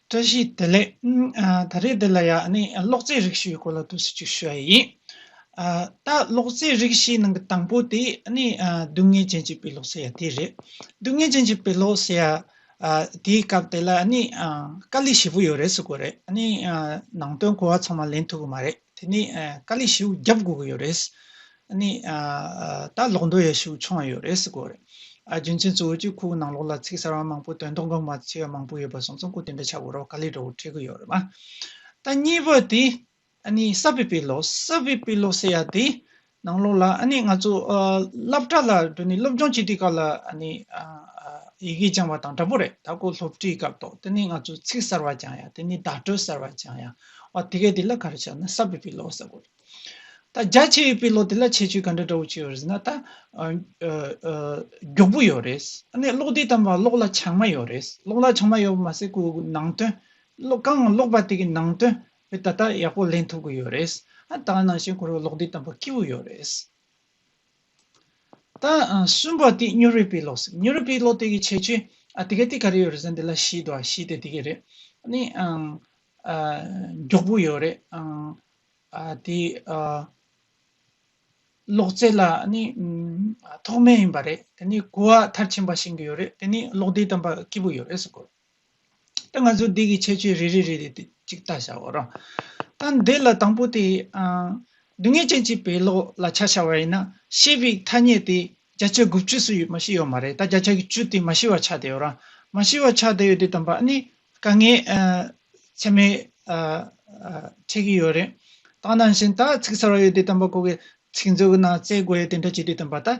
བཀྲ་ཤིས་བདེ་ལེགས། ད་རེས་འདི་ལ་ཡང་ནི་གློག་རྫས་རིགས་བཞིའི་སྐོར་ལ་བསྡུར་ཟིན་ཅིག་ཞུ་ཡ་ཡིན། ད་གློག་རྫས་རིགས་བཞིའི་ནང་གི་དང་པོ་དེ་ནི་སྡུག་བསྔལ་ཅན་གྱི་དཔེ་ཀློག་ཟེར་ཡ་དེ་རེད། སྡུག་བསྔལ་ཅན་གྱི་དཔེ་ཀློག་ཟེར་ཡ་དེའི་སྐབས་དེ་ལ་ནི་དཀའ་ལས་ཞེ་པོ་ཡོད་རེད་ཟེར་དགོས་རེད། ནང་དོན་གོ་བ་ཚང་མ་ལེན་ཐུབ་ཀྱི་མ་རེད། དེ་ནས་དཀའ་ལས་ཤིག་རྒྱབ་དགོས་ཀྱི་ཡོད་རེད། ནས་ད་ལོག་འགྲོ་ཡས་ཤིག་འཆོང་ཡས་ཡོད་རེད་གོ་རེད། རྒྱུ་མཚན་གཙོ་བོ་སྤྱི་ཁོག་ནང་ལོག་ལ་ཚིག་གསར་བ་མང་པོ་དོན་དོ་འགོད་མ་བྱས་པ་མང་པོ་ཡོད་པ་སོང་ཙང་གོ་དེ་འདྲ་བྱ་དགོས་རོགས་དཀའ་ལས་འགྲོ་བོ་འཕྲད་ཀྱི་ཡོད་རེད་མ། ད་གཉིས་པ་དེ། གསར་བའི་དཔེ་ཀློག་གསར་བའི་དཔེ་ཀློག་ཟེར་ཡ་དེ། ནང་ལོགས་ལ་ཨ་ནི་ང་ཚོ་སླབ་གྲ་ལ་འགྲོ་ནི་སློབ་སྦྱོང་བྱེད་དུས་སྐབས་ལ་ཨ་ནི་ཡི་གེ་སྦྱང་བ་དང་འདྲ་པོ་རེད་ད་ཁོ་སློབ་ཁྲིད་སྐབས་ཐོག་དེ་ནི་ང་ཚོ་ཚིག་གསར་བ་སྦྱང་ཡ་དེ་ནི་བརྡ་སྤྲོད་གསར་བ་སྦྱང་ཡ་ཨོ་དེ་གས་དེ་ལ་ག་རེ་བྱ་ན་གསར་བའི་དཔེ་ཀློག་ས་དགོས་རེད་ད་རྒྱ་ཆེ་བའི་དཔེ་ཀློག་དེ་ལ་ཁྱད་ཆོས་ག་འདྲ་འདྲ་བོ་བྱེད་ཡོད་རེད་ཟེར་ན་ད་མགྱོགས་པོ་ཡོད་རེད་ཨ་ནི་ཀློག་དུས་དམ་པ་ཀློག་ལ་ཆག་མ་ཡོད་རེད་ཀློག་ལ་ཆག་མ་ཡོད་པ་མ་ཟད་ཁོའི་ནང་དོན་ཀློག་གང་ཀློག་པ་དེ་གའི་ནང་དོན་ད་ལྟ་ཡག་པོ་ལེན་ཐུབ་གི་ཡོད་རེད། ད་ནང་བཞིན་ཁོ་རང་ལོག་འགྲེལ་དམ་པོ་སྐྱེ་བོ་ཡོད་རེད། ད་གསུམ་པ་དེ་སྨྱོ་རུས་པའི་ལོག་སྨྱོ་རུས་པའི་ལོག་དེ་གི་ཆེ་ཆུ་དེ་ག་དེ་ག་རེད་ཡོད་རེད་ཟེར་འདི་ལ་ཤིས་དོ་ཤིས་དེ་དེ་གི་རེད་ནི་མགྱོགས་པོ་ཡོད་རེད། དེ་ལོག་རྩེད་ལ་ནི་ཐོག་མའི་ཡིན་པ་རེད་དེ་ནི་གོ་བ་མཐར་ཕྱིན་པ་བྱིན་གི་ཡོད་རེད་དེ་ནི་ལོག་འགྲེལ་དམ་པ་སྐྱེ་བོ་ཡོད་རེད་ཟེར་གི་རེད། ང་ཚོས་འདི་གི་ཁྱད་ཆོས་རེ་རེ་རེ་རེ་དེ་གཅིག་ལྟ་བྱ་བ་རང། ད་འདི་ལ་དང་པོ་དེ། སྡུག་བསྔལ་ཅན་གྱི་བེ་ལོག་ལ་ཆ་བྱ་བ་ཡིན་ན་ཤེས་པའི་ཐ་སྙད་དེ་བརྒྱ་ཆ་དགུ་བཅུ་སུ་ཡོད་མ་ཤེས་ཡོད་མ་རེད་ད་བརྒྱ་ཆ་གི་བཅུ་དེ་མ་ཤེས་བ་ཆགས་བསྡད་ཡོད་རང། མ་ཤེས་བ་ཆགས་བསྡད་ཡོད་དེ་དམ་པ་ནི་དཀའ་ངལ། ཚད་མའི། འཕྲད་ཀྱི་ཡོད་རེད། ད་ནང་བཞིན་ད་ཚིག་གསར་བ་ཡོད་དེ་དམ་པ་གོ་གི་ཚིག་མཛོད་ཀྱི་ནང་བཙལ་དགོས་ཡོད་དེ་འདྲ་བྱས་དེ་དམ་པ་ད་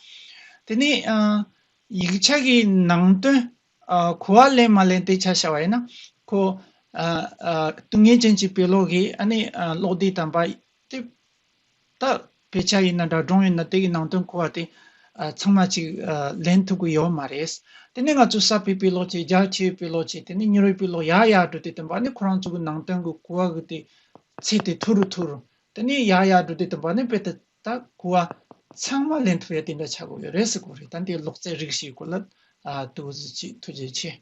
དེ་ནས་ཡིག་ཆ་གི་ནང་དོན་གོ་བ་ལེན་མ་ལེན་དེ་ཆ་བྱ་བ་ཡིན་ན། ཁོ། སྡུག་བསྔལ་ཅན་གྱི་དཔེ་ཀློག་གིས་ཨ་ནི་ཀློག་བདེ་དམ་པ། དེ་དག་དཔེ་ཆ་ཡིན་ན་དྲ་སྒྲོང་ཡིན་ན་དེ་གི་ནང་དོན་གོ་བ་དེ་ཚང་མ་ཅིག་ལེན་ཐུབ་ཀི་ཡོད་མ་རེད། དེ་ནས་ང་ཚོ་གསར་པའི་དཔེ་ཀློག་ཅིག་རྒྱ་ཆེའི་དཔེ་ཀློག་ཅིག་དེ་ནས་མྱུར་བའི་དཔེ་ཀློག་ཡག་ཡག་བགྲོ་བདེ་དམ་པ་ཨ་ནི་ཁོ་རང་ཚོ་གི་ནང་དོན་གི་གོ་བ་གི་དེ་ཚད་དེ་མཐོ་རུ་མཐོ་རུ། དེ་ནས་ཡག་ཡག་བགྲོ་བདེ་དམ་པ་ཨ་ནི་དཔེ་དེ་ད་གོ་བ་ཚང་མ་ལེན་ཐུབ་ཡ་དེ་འདྲ་བྱ་དགོས་ཡོད་རེད་ཟེར་དགོས་རེད་ད་འདི་ལོག་རྩལ་རིགས་ཤིག་གོ་ལ་དུ་ཅིག་ཐུགས་རྗེ་ཆེ།